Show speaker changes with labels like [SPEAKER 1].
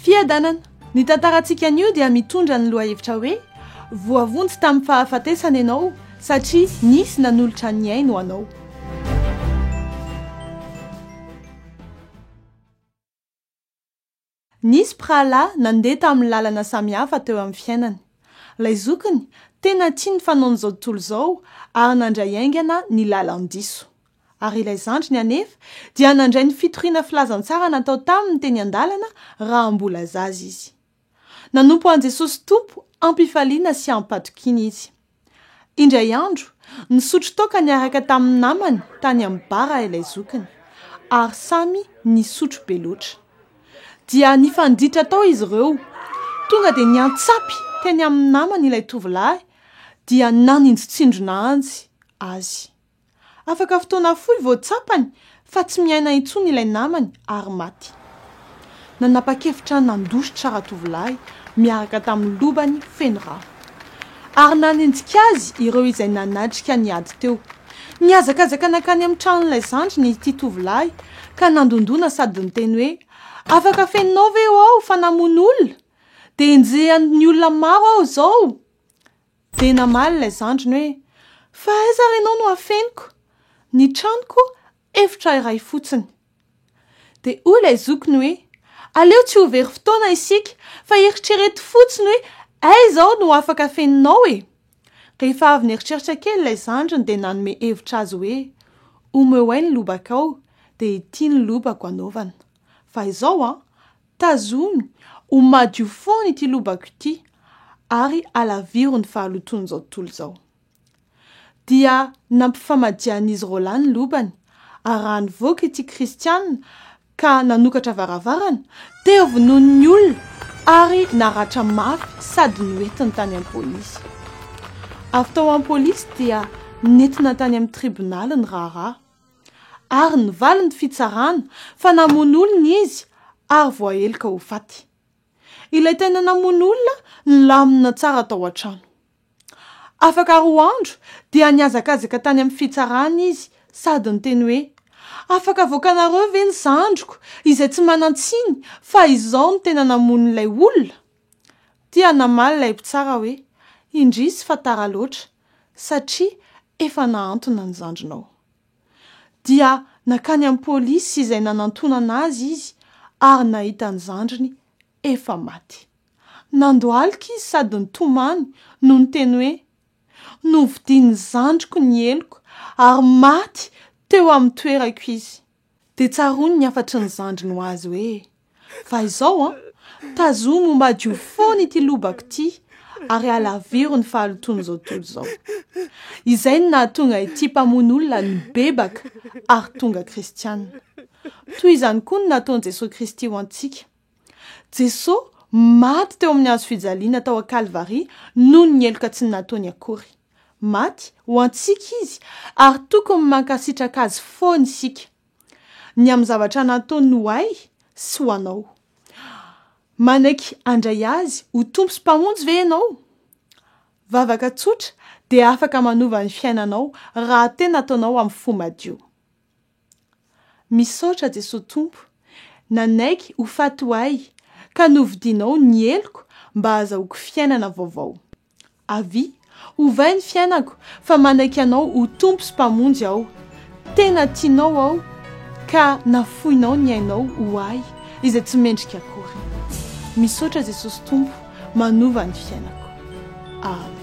[SPEAKER 1] Fiadanana. Ny tantarantsika anio dia mitondra ny lohahevitra hoe Voavonjy tamin'ny fahafatesana ianao satria nisy nanolotra ny ainy ho anao. Nisy mpirahalahy nandeha tamin'ny lalana samihafa teo amin'ny fiainany. Ilay zokiny, tena tia ny fanaon'izao tontolo izao ary nandray haingana ny lalan-diso. Ary ilay zandriny anefa dia nandray ny fitoriana filazantsara natao taminy teny an-dalana raha mbola zaza izy. Nanompo an'i Jesosy Tompo am-pifaliana sy am-patokiana izy. Indray andro, nisotro toaka niaraka tamin'ny namany tany amin'ny bar ilay zokiny, ary samy nisotro be loatra. Dia nifanditra tao izy ireo. Tonga dia niantsapy teny amin'ny namany ilay tovolahy, dia naninjitsindrona anjy azy. Afaka fotoana fohy vao tsapany fa tsy miaina intsony ilay namany ary maty. Nanapa-kevitra nandositra ratovolahy miaraka tamin'ny lobany feno rano. Ary nanenjika azy ireo izay nanatrika ny ady teo. Nihazakazaka nankany amin'ny tranon'ilay zandriny ity tovolahy ka nandondona sady niteny hoe, Afaka fenonao ve aho fa namono olona? Dia enjehan'ny olona maro aho izao! Dia namaly ilay zandriny hoe, Fa aiza ary ianao no hafeniko? Ny tranoko efitra iray fotsiny. Dia hoy ilay zokiny hoe, Aleo tsy ho very fotoana isika fa eritrereto fotsiny hoe aiza aho no afaka afeninao e! Rehefa avy nieritreritra kely ilay zandriny dia nanome hevitra azy hoe, Omeo ahy ny lobakao dia ity ny lobako anaovana. Fa izao an! Tazomy ho madio foana ity lobako ity ary alaviro ny fahalotoan'izao tontolo izao. Dia nampifamadian'izy roalahy ny lobany, ary raha nivoaka ity Kristiana ka nanokatra varavarana, dia vonoin'ny olona ary naratra mafy sady noentiny tany am-polisy. Avy tao am-polisy dia nentina tany amin'ny tribonaly ny raharaha. Ary nivaly ny fitsarana fa namono olona izy ary voaheloka ho faty. Ilay tena namono olona nilamina tsara tao an-trano. Afaka roa andro dia nihazakazaka tany amin'ny fitsarana izy sady niteny hoe, Afaka avoakanareo ve ny zandriko izay tsy manan-tsiny fa izaho no tena namono ilay olona? Dia namaly ilay mpitsara hoe, Indrisy fa tara loatra. satria efa nahantona ny zandrinao. Dia nankany amin'ny polisy izay nanantonana azy izy ary nahita ny zandriny efa maty. Nandohalika izy sady nitomany no niteny hoe, Novidian'ny zandriko ny heloko ary maty teo amin'ny toerako izy. Dia tsaroany ny hafatry ny zandriny ho azy hoe, Fa izao an, tazomy ho madio foana ity lobako ity ary halaviro ny fahalotoan'izao tontolo izao. Izay no nahatonga ity mpamono olona nibebaka ary tonga kristiana. Toy izany koa no nataon'i Jesoa Kristy ho antsika. Jesoa maty teo amin'ny hazo fijaliana tao an-Kalvary noho ny heloka tsy nataony akory. Maty ho antsika Izy ary tokony mankasitraka Azy foana isika, ny amin'ny zavatra nataony ho ahy sy ho anao. Manaiky handray Azy ho Tompo sy Mpamonjy ve ianao? Vavaka tsotra dia afaka manova ny fiainanao raha tena ataonao amin'ny fo madio. Misaotra Jesoa Tompo, nanaiky ho faty ho ahy ka novidianao ny heloko mba hahazahoako fiainana vaovao. Avia, ovay ny fiainako, fa manaiky Anao ho Tompo sy Mpamonjy aho. Tena tianao aho, ka nafoinao ny ainao ho ahy izay tsy mendrika akory. Misaotra Jesosy Tompo manova ny fiainako. Amen.